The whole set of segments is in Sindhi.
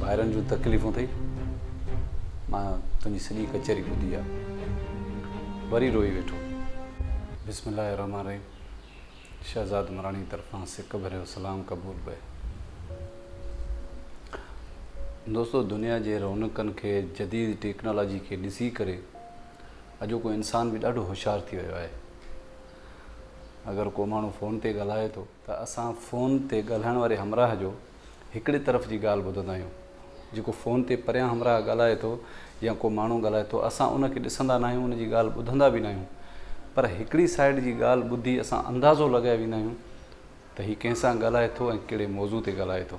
ڀائرن جون تڪليفون ٿئي مان تنهنجي سڄي ڪچهري ٻڌي آ وري روئي ويٺو بسم الله الرحمن الرحيم شهزاد مراڻي طرفان سڪ ڀريو سلام قبول پئي دوستو دنيا جي رونقن کي جديد ٽيڪنالاجي کي ڏسي ڪري اڄوڪو انسان به ڏاڍو هوشيار ٿي ويو آهي اگر ڪو ماڻهو فون تي ڳالهائي ٿو ته اسان فون تي ڳالهائڻ واري همراهه جو هڪڙي طرف جي ڳالهه ٻڌندا آهيون، جيڪو فون تي پريان همراهه ڳالهائي ٿو يا ڪو ماڻهو ڳالهائي ٿو اسان ان کي ڏسندا ناهيون ان جي ڳالهه ٻڌندا به ناهيون پر هڪڙي سائيڊ جي ڳالهه ٻڌي اسان اندازو لڳائي ويندا آهيون ته هي ڪنهن سان ڳالهائي ٿو ۽ ڪهڙي موضوع تي ڳالهائي ٿو.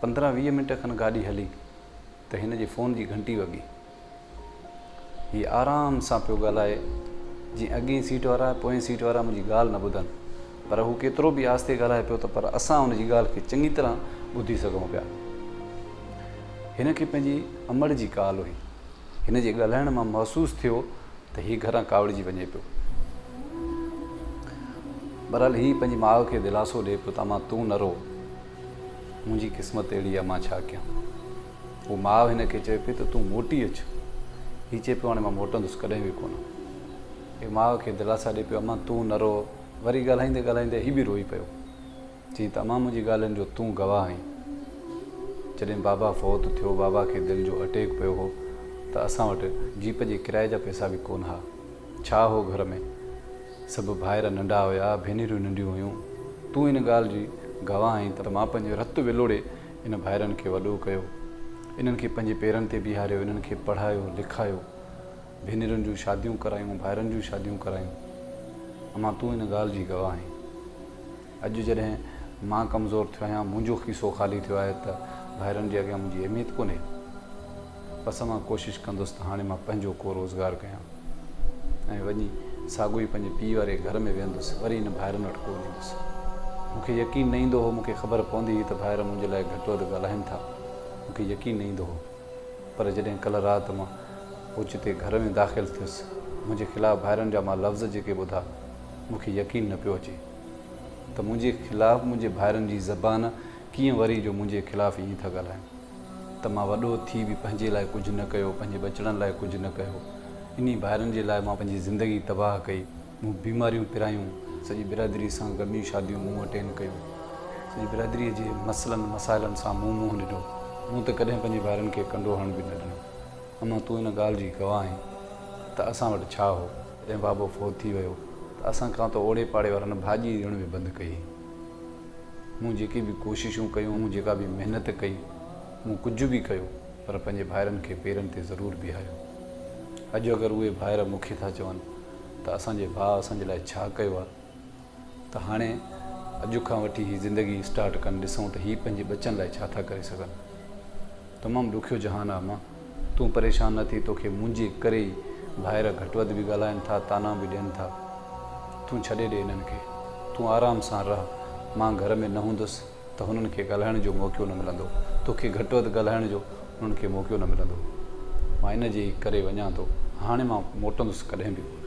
پندرهن ويهه منٽ کن گاڏي هلي ته هن جي فون جي گهنٽي وڳي. هي آرام سان پيو ڳالهائي جيئن اڳئين سيٽ وارا ۽ پوئين سيٽ وارا منهنجي ڳالهه نه ٻڌن. پر هو ڪيترو به آهستي ڳالهائي پيو ته پر اسان هن جي ڳالهه کي چڱي طرح ٻڌي سگهون پيا. هن کي پنهنجي امڙ جي ڪال هئي. هن جي ڳالهائڻ مان محسوس ٿيو ته هي گهران ڪاوڙجي وڃي پيو. بهرحال هي پنهنجي ماء کي دلاسو ڏئي پيو ته امان تون نه رو، منهنجي قسمت اهڙي آهي مان ڇا ڪيان. هو ماء هن کي چوي پئي ته تون موٽي اچ. هي چئي پيو هاڻي مان موٽندس ڪڏهن به ڪونه. هي ماء کي دلاسا ڏئي پيو امان تون نه رو، وري ڳالهائيندي ڳالهائيندي هي به روئي پيو. چيائين ته امان منهنجي ڳالهين جو تون گواهه آهين. جڏهن بابا فوت ٿيو، بابا کي دل جو اٽيڪ پيو هو ته اسان وٽ جيپ جي ڪرائي جا پئسا به ڪونه ها. ڇا هو گهر ۾؟ سڀ ڀائر ننڍا هيا، ڀينريون ننڍيون هيون. تون ان ڳالهه جي گواهه آهين ته مان پنهنجو رت ولوڙي ان ڀائرن کي وڏو ڪيو. انهن کي پنهنجي پيرن تي بيهاريو، انهن کي پڙهايو، لکايو. ڀينرين جون شاديون ڪرايون، ڀائرن جون شاديون ڪرايون. امان تون ان ڳالهه جي گواهه آهين. اڄ جڏهن مان ڪمزور ٿيو آهيان، منهنجو کيسو خالي ٿيو آهي ته ڀائرن جي اڳيان منهنجي اهميت ڪونهي. بس مان ڪوشش ڪندس ته هاڻي مان پنهنجو ڪو روزگار ڪيان ۽ وڃي ساڳو ئي پنهنجي پيء واري گهر ۾ ويهندس، وري هن ڀائرن وٽ ڪونه ايندس. مون کي يقين نه ايندو هو، مون کي خبر پوندي هئي ته ڀائر منهنجي لاء گهٽ وڌ ڳالهائين ٿا، مون کي يقين نه ايندو هو. پر جڏهن ڪلهه رات مان اوچتي گهر ۾ داخل ٿيس، منهنجي خلاف ڀائرن جا مان لفظ جيڪي ٻڌا، مون کي يقين نه پيو اچي. ته منهنجي خلاف منهنجي ڀائرن جي زبان ڪيئن وري جو منهنجي خلاف ائين ٿا ڳالهائين ته مان وڏو ٿي به پنهنجي لاء ڪجهه نه ڪيو پنهنجي ٻچڙن لاء ڪجهه نه ڪيو انهي ڀائرن جي لاء مان پنهنجي زندگي تباهه ڪئي مون بيماريون پرايون سڄي برادري سان غمي شاديون مون اٽينڊ ڪيون سڄي برادري جي مسئلن مسائلن سان مون منهن ڏنو مون ته ڪڏهن پنهنجي ڀائرن کي ڪنڊو هڻڻ به نه ڏنو اما تون ان ڳالهه جي گواهه آهين ته اسان وٽ ڇا هو جڏهن بابو فوت ٿي ويو ته اسان کان ته اوڙي پاڙي وارن ڀاڄي ڏيڻ به بند ڪئي. مون جيڪي به ڪوششون ڪيون، مون جيڪا به محنت ڪئي، مون ڪجهه به ڪيو پر پنهنجي ڀائرن کي پيرن تي ضرور بيهاريو. اڄ اگر اهي ڀائر مون کي ٿا چون ته اسان جي ڀاء اسان جي لاء ڇا ڪيو آهي؟ ته هاڻي اڄ کان وٺي هي زندگي اسٽارٽ ڪن ڏسون ته هي پنهنجي ٻچن لاء ڇا ٿا ڪري سگهن. تمام ڏکيو جهان آ مان. تون پريشان نه ٿي توکي منهنجي ڪري ئي ڀائر گهٽ وڌ به ڳالهائن ٿا طعنا به ڏين ٿا. تون ڇڏي ڏي انهن کي. تون آرام سان رهه. مان گهر ۾ نه هوندس ته هنن کي ڳالهائڻ جو موقعو نه ملندو. توکي گهٽ وڌ ڳالهائڻ جو انهن کي موقعو نه ملندو. مان ان جي ئي ڪري وڃان ٿو. هاڻي مان موٽندس ڪڏهن به ڪونه.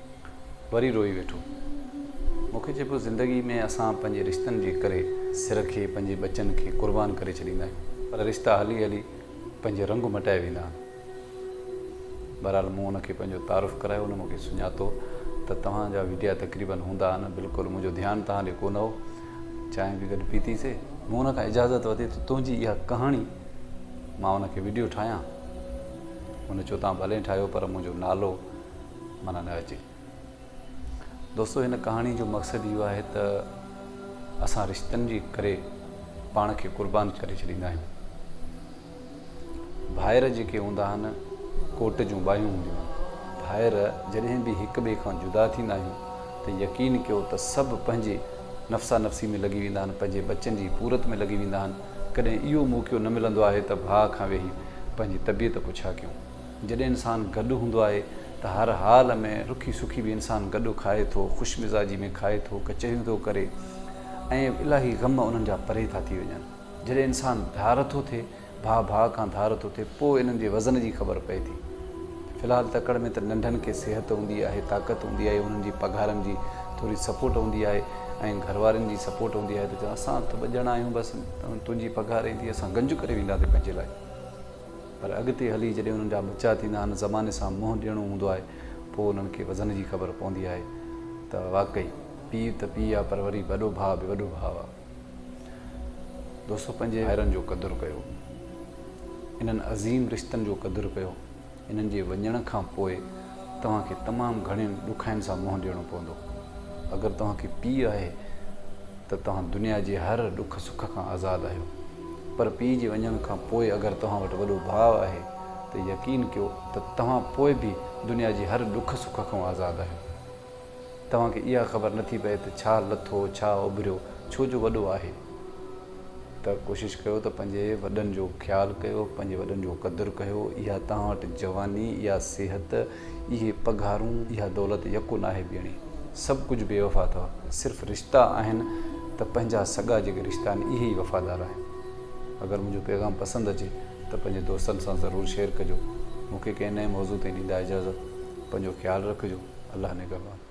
وري روئي ويٺو. مون کي چئي پيو زندگي ۾ اسان پنهنجي رشتن جي ڪري سر کي پنهنجي ٻچن کي قربان ڪري ڇڏيندا آهيون پر رشتا هلي هلي پنهنجي رنگ مٽائي ويندا آهن. بهرحال مون هن کي پنهنجو تعارف ڪرايو هن مون کي سڃاتو ته توهان جا وڊيا تقريبن هوندا آهن بلڪل منهنجو ڌيان توهان ڏي ڪونه هو. چانهه به گڏ پيتي سي. مون هن کان اجازت ورتي ته تنهنجي اها ڪهاڻي مان ان کي وڊيو ٺاهيان هن چيو توهان ڀلي ٺاهيو پر منهنجو نالو. معنيٰ نه اچي. دوستو هن ڪهاڻي جو مقصد اهو آهي ته اسان رشتن جي ڪري پاڻ کي قربان ڪري ڇڏيندا آهيون. ڀائر جيڪي هوندا آهن ڪوٽ جون ٻاهيون هونديون آهن. ڀائر جڏهن به هڪ ٻئي کان جدا ٿيندا آهيون ته يقين ڪيو ته سڀ پنهنجي نفسا نفسي ۾ لڳي ويندا آهن پنهنجي ٻچن جي پورت ۾ لڳي ويندا آهن ڪڏهن اهو موقعو نه ملندو آهي ته ڀاء کان ويهي پنهنجي طبيعت پڇا ڪيون. جڏهن انسان گڏ هوندو آهي ته هر حال ۾ رکي سکي به انسان گڏ کائي ٿو، خوش مزاجي ۾ کائي ٿو، ڪچهريون ٿو ڪري ۽ الاهي غم انهن جا پري ٿا ٿي وڃن. جڏهن انسان ڌار ٿو ٿئي، ڀاء ڀاء کان ڌار ٿو ٿئي پوء انهن جي وزن جي خبر پئي ٿي. في الحال تڪڙ ۾ ته ننڍن کي صحت هوندي آهي، طاقت هوندي آهي، انهن جي پگهارن جي ٿوري سپورٽ هوندي آهي ۽ گهروارين جي سپورٽ هوندي آهي ته چون اسان ته ٻه ڄڻا آهيون بس تنهنجي پگهار ايندي اسان گنج ڪري وينداسين پنهنجي لاء. پر اڳتي هلي جڏهن انهن جا ٻچا ٿيندا آهن، زماني سان منهن ڏيڻو هوندو آهي، پوء انهن کي وزن جي خبر پوندي آهي ته واقعي پيء ته پيء آ پر وري وڏو ڀاء به وڏو ڀاء آ. دوستو پنهنجي ڀائرن جو قدر ڪيو، انهن عظيم رشتن جو قدر ڪيو، انهن جي وڃڻ کان پوء توهان کي تمام گهڻين ڏکاين سان منهن ڏيڻو پوندو. اگر توهان کي پيء آهي ته توهان دنيا جي هر ڏک سک کان آزاد آهيو. پر پيء جي وڃڻ کان پوء اگر توهان وٽ وڏو ڀاء آهي ته يقين ڪيو ته توهان پوء به دنيا جي هر ڏک سک کان آزاد آهيو. توهان کي اها خبر نه ٿي پئي ته ڇا لٿو ڇا اڀريو ڇو جو وڏو آهي. ته ڪوشش ڪيو ته پنهنجي وڏن جو خيال ڪيو پنهنجي وڏن جو قدر ڪيو اها توهان وٽ جواني يا صحت، اهي پگهارون، اها دولت يڪو ناهي ٻيڻي. سڀ ڪجهه بي وفا اٿئو. صرف رشتا آهن ته پنهنجا سڳا جيڪي رشتا آهن اهي ئي وفادار آهن. اگر منهنجو پيغام پسند اچي ته پنهنجي دوستن سان ضرور شيئر ڪجو. مون کي ڪنهن نئين موضوع تي ڏيندا اجازت. پنهنجو خيال رکجو. الله نگهبان.